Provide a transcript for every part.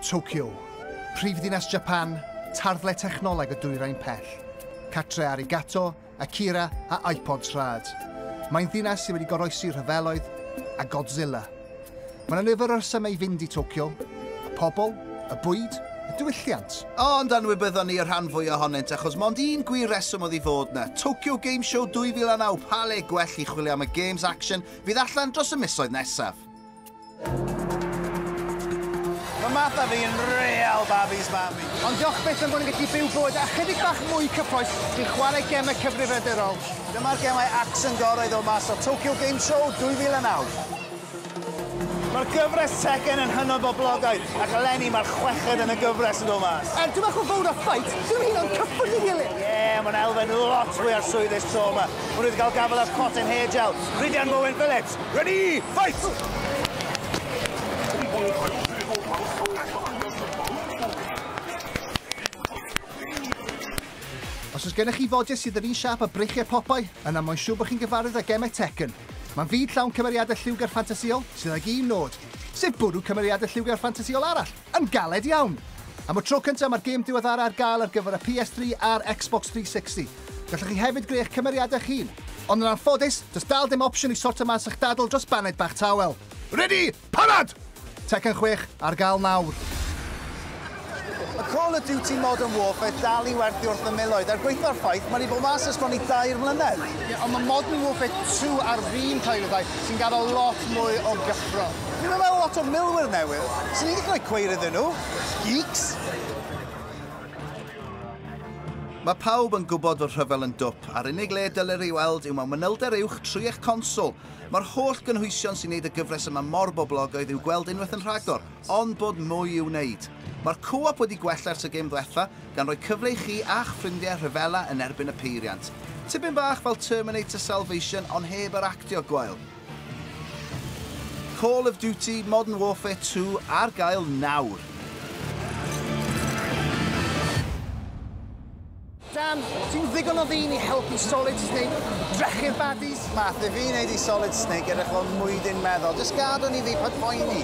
Tokyo, prif ddinas Japan, tarddle technoleg y dwyrain pell. Catre Arigato, Akira a iPods rhad. Mae'n ddinas sydd wedi goroesi rhyfeloedd a Godzilla. Mae yna nifer o resymau i fynd i Tokyo. Y pobl, y bwyd, y diwylliant. Ond anwybyddon ni y rhan fwy ohonynt achos mond un gwir reswm oedd i fod yna. Tokyo Game Show 2009, pa le gwell i chwilio am y games action fydd allan dros y misoedd nesaf. Mae Martha fi yn real Barbies Barbie. Ond diolch byth am bod yn gallu byw bywyd a chydig bach mwy cyffroes sy'n chwarae gemau cyfrifiadurol. Dyma'r gemau action gorau ddod mas o Tokyo Game Show 2009. Mae'r gyfres Tekken yn hynod boblogaidd, ac eleni mae'r chweched yn y gyfres yn dod mas. Er, dwi'n meddwl fawr o ffait, dwi'n hyn o'n cyffwrdd i gilydd. Ie, yeah, mae'n elfen lot fwy arswydus tro yma. Mae wedi cael gafael ar Cotton Hair Gel, Rhydian Bowen Phillips. Ready, fight! Os oes gennych chi fodiau sydd yr un siap a breichiau popau, yna mae'n siŵr bod chi'n gyfarwydd â gemau Tekken. Mae'n fyd llawn cymeriadau lliwgar ffantasiol sydd ag un nod, sef bwrw cymeriadau lliwgar ffantasiol arall! Yn galed iawn! Am y tro cyntaf mae'r gêm diweddara ar gael ar gyfer y PS3 a'r Xbox 360. Gallwch chi hefyd greu eich cymeriadau eich hun. Ond yn anffodus, does dal dim opsiwn i sortio mas eich dadl dros baned bach tawel. Ready! Parad! Tekken chwech ar gael nawr! Mae Call of Duty Modern Warfare dal i werthu wrth y miloedd, er gwaetha'r ffaith mae wedi bod mas ers bron i dair mlynedd. Ie, ond mae Modern Warfare 2 ar fin cael ei ryddhau, sy'n gadael lot mwy o gyffro. Dwi yma efo lot o milwyr newydd. Swn i'n gallu rhoi cweir iddyn nhw. Geeks! Mae pawb yn gwybod fod rhyfel yn dwp, a'r unig le y dylir ei weld yw mewn manylder uwch trwy eich conswl. Mae'r holl gynhwysion sy'n neud y gyfres yma mor boblogaidd i'w gweld unwaith yn rhagor, ond bod mwy i'w wneud. Mae'r co-op wedi gwella ers y gêm ddwetha, gan roi cyfle i chi a'ch ffrindiau rhyfela yn erbyn y peiriant. Tipyn bach fel Terminator Salvation ond heb yr actio gwael. Call of Duty Modern Warfare 2 ar gael nawr! Dan, ti'n ddigon o ddyn i helpu Solid Snake drechu'r baddies? Math, i fi wneud i Solid Snake edrych fel mwydyn meddwl. Just gadw ni fi pan poeni.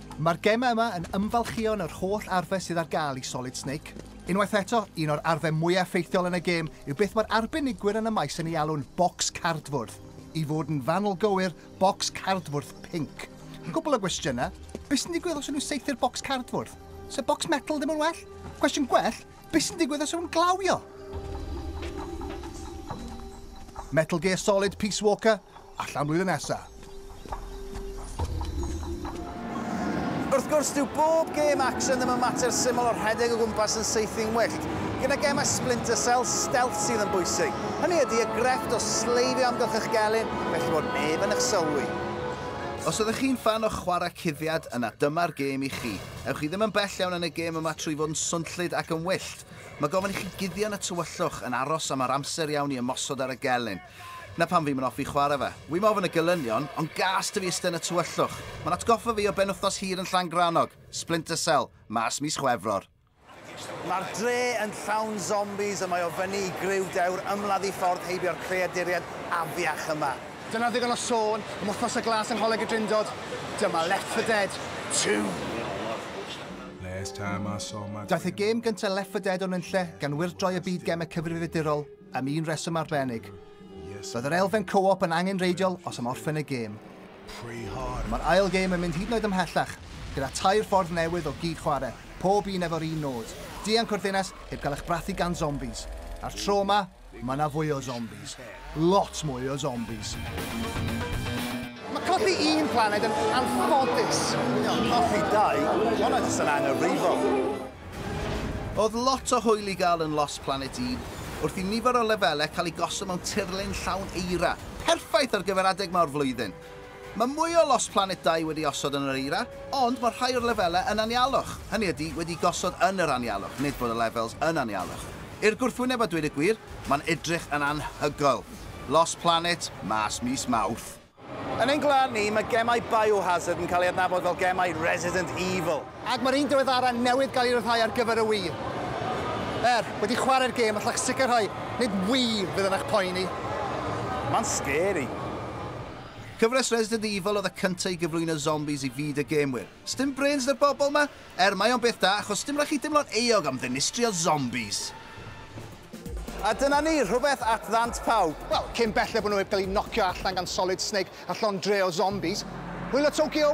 Mae'r gemau yma yn ymfalchïon yr holl arfe sydd ar gael i Solid Snake. Unwaith eto, un o'r arfe mwyaf effeithiol yn y gêm yw beth mae'r arbenigwyr yn y maes yn ei alw'n 'bocs cardfwrdd'. I fod yn fanwl gywir, bocs cardfwrdd pinc. Cwpl o gwestiynau, be sy'n digwydd os ydyn nhw'n saethu'r bocs cardfwrdd? Sa bocs metal ddim yn well? Cwestiwn gwell, be sy'n digwydd os ydyn nhw'n glawio? Metal Gear Solid Peace Walker, Allan blwyddyn nesa. Wrth gwrs, dyw bob gêm action ddim yn mater syml o rhedeg o gwmpas yn saethu'n wyllt. Gyda gemau Splinter Cell, stealth sydd yn bwysig. Hynny ydy, y grefft o sleifio amgylch eich gelyn, felly bod neb yn eich sylwi. Os ydych chi'n ffan o chwarae cuddiad, yna dyma'r gêm i chi. Ewch chi ddim yn bell iawn yn y gêm yma trwy fod yn swnllyd ac yn wyllt. Mae gofyn i chi guddio yn y tywyllwch, yn aros am yr amser iawn i ymosod ar y gelyn. Na pam fi'm yn offi chwarae fe. Wi'm ofn y gelynion, ond gas 'da fi iste yn y tywyllwch. Mae'n atgoffa fi o benwthnos hir yn Llangrannog, Splinter Cell, mas mis Chwefror. Mae'r dre yn llawn zombies a mae o fyny i griw dewr ymladd i ffordd heibio'r creaduriaid afiach yma. Dyna ddigon o sôn am Wythnos y Glas yng Ngholeg y Drindod, dyma Left 4 Dead 2! Daeth y gêm gyntaf Left 4 Dead o nunlle gan wirdroi y byd gemau cyfrifiadurol, Am un reswm arbennig. Bydd yr elfen co-op yn angenreidiol os am orffen y gêm. Mae'r ail gêm yn mynd hyd yn oed ymhellach, gyda tair ffordd newydd o gyd chwarae, pob un efo'r un nod, dianc o'r ddinas heb gael eich brathu gan zombies. A'r tro yma, mae yna fwy o zombies. Lot mwy o zombies. Mae colli un planed yn anffodus. Colli dau, hwnna jyst yn angyfrifol. Oedd lot o hwyl i gael yn Lost Planet un, wrth i nifer o lefelau cael eu gosod mewn tirlun llawn eira, perffaith ar gyfer adeg 'ma o'r flwyddyn. Mae mwy o Lost Planet dau wedi osod yn yr eira, ond mae rhai o'r lefelau yn anialwch, hynny ydi, wedi gosod yn yr anialwch, nid bod y levels yn anialwch. I'r gwrthwyneb a dweud y gwir, mae'n edrych yn anhygoel. Lost Planet mas mis Mawrth. Yn ein gwlad ni, mae gemau Biohazard yn cael ei adnabod fel gemau Resident Evil. Ac mae'r un diweddara newydd gael ei ryddhau ar gyfer y Wii. Er, wedi chwarae'r gêm, allech sicrhau, nid Wii fydd yn eich poeni. Mae'n scary. Cyfres Resident Evil oedd y cynta i gyflwyno zombies i fyd y gêmwyr. Sdim brêns 'da'r bobl 'ma? Er mae o'n beth da achos sdim rhaid chi deimlo'n euog am ddinistrio zombis. A dyna ni, rhywbeth at ddant pawb. Wel, cyn belled bod nhw heb gael eu nocio allan gan Solid Snake a llond dre o zombis. Hwyl o Tokyo!